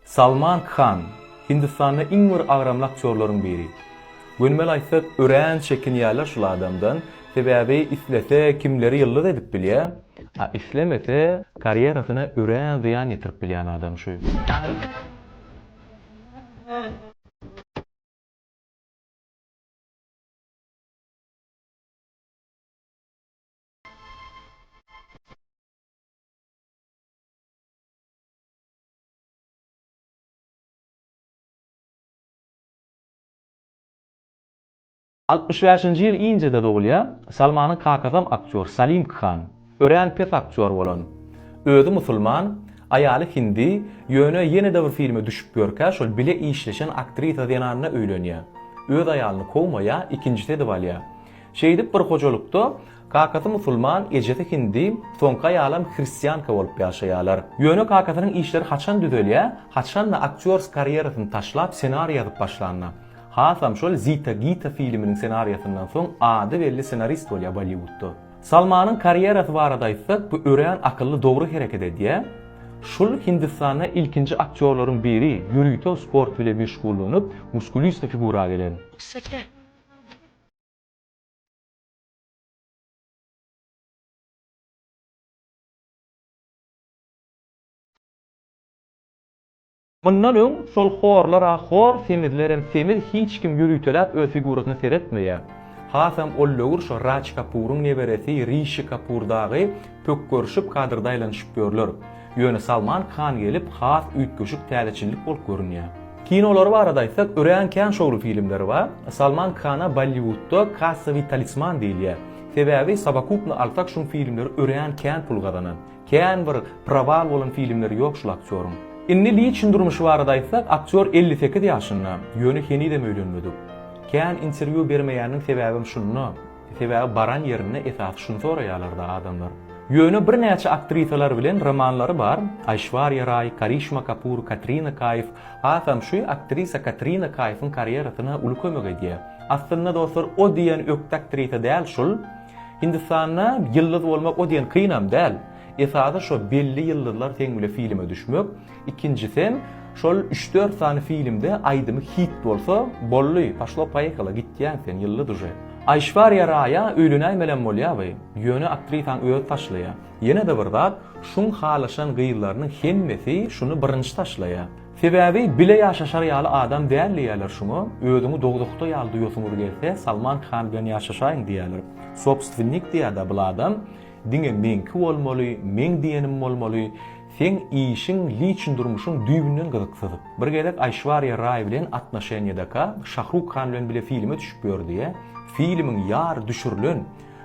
Salman Khan, Hindistanda iň bir agramly aktýorlaryň biri. Gönümel aýtsak, örän çekinýärler şul adamdan, sebäbi islese kimleri ýyldyz edip bilýär, a islemese karýerasyna örän zyýan ýetirip bilýän adam şu. Altmyş bäşinji ýyl Indiýada dogulýar. Salmanyň kakasam aktýor, Salim Khan. Örän pes aktýor bolan. Özi musulman, aýaly hindi, ýöne ýene-de bir filme düşüp ýörkä şol bile işleşen aktrisa zenanyna öýlenýär. Öz aýalyny kowmaýar, ikinjisi edip alýar. Şeýdip bir hojalykda kakasy musulman, ejesi hindi, soňky aýalam hristianka bolup ýaşaýarlar. Ýöne kakasynyň işleri haçan düzelýär, haçanda aktýors karýerasyny taşlap senariý ýazyp başlanda. Hasam şol Zita Gita filminiň senariýasyndan soň ady belli senarist bolýar Bolliwudda. Salmanyň karýerasy barada aýtsak bu örän akylly dogry hereket edýär. Şul Hindistanda ilkinji aktýorlaryň biri, ýörite sport bile meşgullanyp, muskulista figura gelen. Mundan öň şol horlar-a hor, semizlerem semiz hiç kim ýöriteläp öz figurasyna seretmeýär. Hasam ol döwür şo Raç Kapuryň neberesi Rişi Kapur dagy pökgerişip kadrda aýlanyşyp ýörler. Ýöne Salman Khan gelip has üýtgeşik täzeçillik bolup görünýär. Kinolary barada aýtsak, örän kän şowly filmleri bar. Salman Khana Bolliwudda kassawiý talisman diýilýär. Sebäbi sowokupno alsak şuň filmleri örän kän pul gazanan. Kän bir prowal bolan filmleri ýok şul aktýoryň. Indi liçn durmuşy barada aýtsak, aktýor elli sekiz ýaşynda, ýöne henizem öýlenmedik. Kän interwýu bermeýäniniň sebäbem şunda. Sebäbi baran ýerinde esasy şuny soraýarlar-da adamlar. Ýöne birnäçe aktrisalar bilen romanlary bar, Aýşwarýa Raý, Karişma Kapur, Katrina Kaýf, hasam şu aktrisa Katrina Kaýfyň karýerasyna uly kömek edýär. Aslynda dostlar o diýen ökde aktrisa däl şul. Hindistanda ýyldyz bolmak o diýen kynam däl. Esasy şo belli ýyldyzlar seň bile filme düşmek. Ikinjisem, şol üç-dört sany filmde aýdymy hit bolsa, bolly, poşlo poýehalo, gitýäň sen, ýyldy duje. Aýşwariýa Raýa öýlenäýmelem bolýaby, ýöne aktrisaň özi taşlaýa. Ýene-de bir zat, şuň halaşan gyzlarynyň hemmesi şuny birinji taşlaýa. Sebäbi bile ýaşaşar ýaly adam däl diýýäler şuňa, özüňi dowzahda ýaly duýasyňyz gelse, Salman Khan bilen ýaşaşaýyň diýýäler. Sobstwennik diýýä-dä bul adam, diňe meňki bolmaly, meň diýenim bolmaly. Seň işiň liçn durmuşyň düýbünden gyzyksyz. Bir gezek Aýşwarýa Raý bilen atnoşenýadaka Şahruk Han bilen bile filme düşüp ýördiä. Filmiň ýary düşürilen.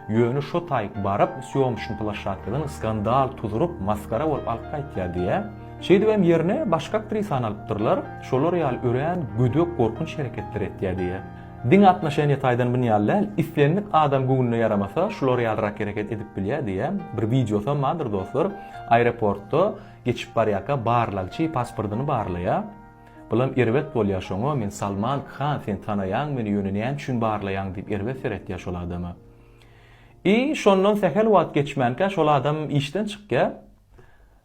Ýöne şo taýyk baryp sýomşn plaşatkadan skandal tuzuryp masgara bolup alyp gaýtýa diä. Şeýdibem ýerine başga aktrisany alypdyrlar. Şolar ýaly örän gödek gorkunç hereketler etýä diä. Diňe atnoşeniýe taýdan bun ýaly däl, islendik adam göwnüne ýaramasa, şular ýalyrak hereket edip bilýär diýýän bir wideosam bardyr dostlar. Aeroportda geçip barýarka barlagçy pasportyny barlaýar. Bulam erbet bolýar şoňa, men Salman Khan sen tanaýaň meni ýöne näme üçin barlaýaň diýip erbet seretýär şol adama. I şondan sähel wagt geçmänkä şol adam işden çykýar.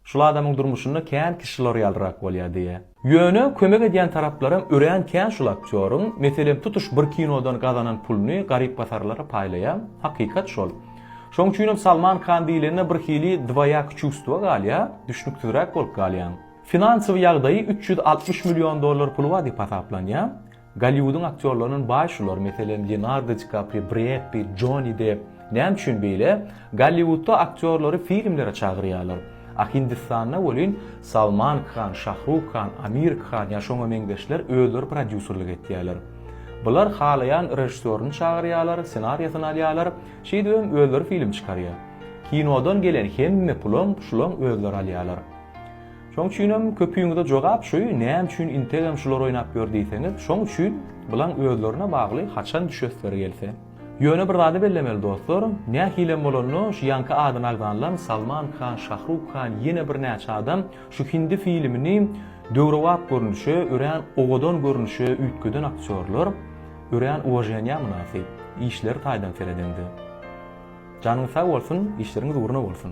Şul adamyň durmuşynda kän kişi şular ýalyrak bolýar diýýä. Ýöne kömek edýän taraplaram örän kän şul aktýoryň, meselem tutuş bir kinodan gazanan puluny garyp-gasarlara paýlaýa, hakykat şol. Şoň üçinem Salman Khan diýlende bir hili dwoýaky çuvstwo galýa, düşnüksizräk bolup galýaň. Finansowy ýagdaýy üç ýüz altmyş million dollar puly bar diýip hasaplanýa. Golliwudyň aktýorlaryndan baý şular, meselem, Leonardo Di Kaprio, Bred Pitt, Joni Depp. Näme üçin beýle? Golliwudda aktýorlary filmlere çagyrýarlar. A Hindistanda welin, Salman Khan, Şahruh Khan, Amir Khan ýa şoňa meňzeşler özleri prodýuserlik etýärler. Bular halaýan režissýoryny çagyrýarlar, ssenariýasyny alýarlar, şeýdip hem özleri film çykarýar. Kinodan gelen hemme pulam şulaň özleri alýarlar. Şoň üçinem köpüňize jogap şu, näme üçin integem şular oýnap ýör diýseňiz, şoň üçin, bulaň özlerine bagly haçan düşesleri gelse. Ýöne bir zady bellemeli dostlar, nähilem bolanda şu ýaňky adyny agzanlam Salman Khan, Şahruk Khan ýene bir näçe adam şu hindi filimini döwrebap görnüşe, örän owadan görnüşe üýtgeden aktýorlar, örän uwaženýa mynasyp, işleri taýdan seredeňde. Janyňyz sag bolsun, işleriňiz ugruna bolsun!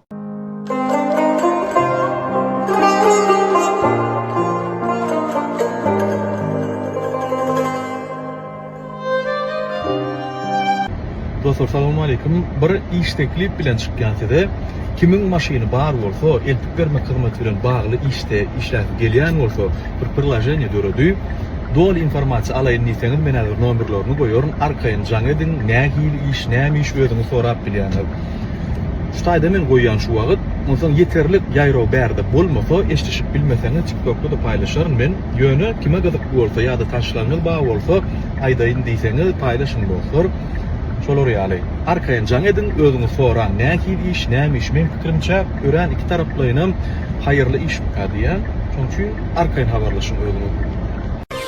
Dostlar salam aleyküm. Bir iş teklip bilen çykýan size. Kimin maşyny bar bolsa, eltip bermek hyzmaty bilen bagly işde işläp gelýän bolsa, bir priloženiýe döredi. Doly informasiýa alaýyn diýseňiz, men häzir nomerlerini goýaryn. Arkaýyn jaň ediň, nähili iş, näme iş özüňiz sorap bilýäňiz. Şu taýda men goýýan şu wagyt. Onsoň ýeterlik ýaýraw bärde bolmasa eşdişip bilmeseňiz tiktokda da paýlaşaryn men. Ýöne kime gyzykly bolsa ýa-da tanyşlaryňyz bar bolsa aýdaýyn diýseňiz paýlaşyň dostlar. Şolar ýaly. Arkaýyn jaň ediň özüňiz soraň nähili iş näme iş meň pikirimçe örän iki taraplaýynam haýyrly işmikä diýýän. Şoň üçin arkaýyn habarlaşyň özüňiz.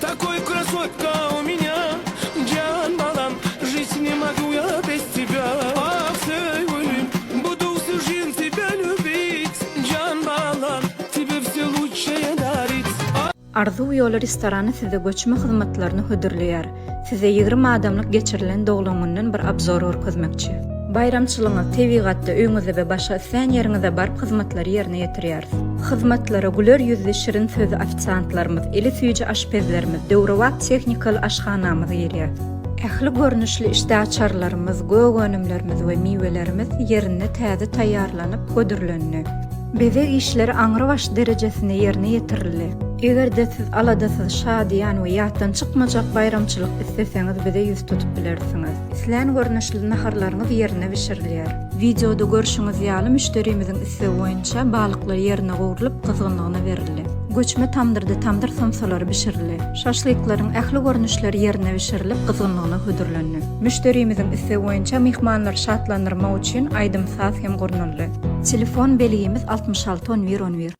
Takoý krasotka u menya Jan balam Žit ne mogu ja bez tebja Ah söýgülim Budu vse žen tebe ljubit Jan balam Tebe vse lučşaje darit Ah. Arzuw ýoly restorany size göçme hyzmatlaryny hödürleýär. Size ýigrimi adamlyk geçirilen doglan günden bir abzor görkezmekçi. Baýramçylygyňyz tebigatda, öýňüzde we başga islän ýeriňizde baryp hyzmatlary ýerine ýetirýär. Hyzmatlara güler ýüzli şirin sözli ofisiantlarymyz, eli süýji aşpezlerimiz, döwrebap tehnikaly aşhanamyz girýär. Ähli görnüşli işdäaçarlarymyz, gök önümlerimiz we miwelerimiz ýerinde täze taýýarlanyp, hödürlendi. Bezeg işleri aňrybaş derejesinde ýerine ýetirildi. Eger-de siz aladasyz, şadyýan we ýatdan çykmajak baýramçylyk isleseňiz bize ýüz tutup bilersiňiz. Islän görnüşli naharlaryňyz ýerine bişirilýär. Wideoda görşüňiz ýaly müşderimiziň islegi boýunça balyklar ýerine gowrulyp gyzgynlygyna berildi. Göçme tamdyrda tamdyr somsalary bişirildi. Şaşlyklaryň ähli görnüşleri ýerine bişirilip gyzgynlygyna hödürlendi. Müşderimiziň islegi boýunça myhmanlary şatlandyrmak üçin aýdym-saz hem gurnaldy. Telefon belgimiz altmyş alty on bir on bir.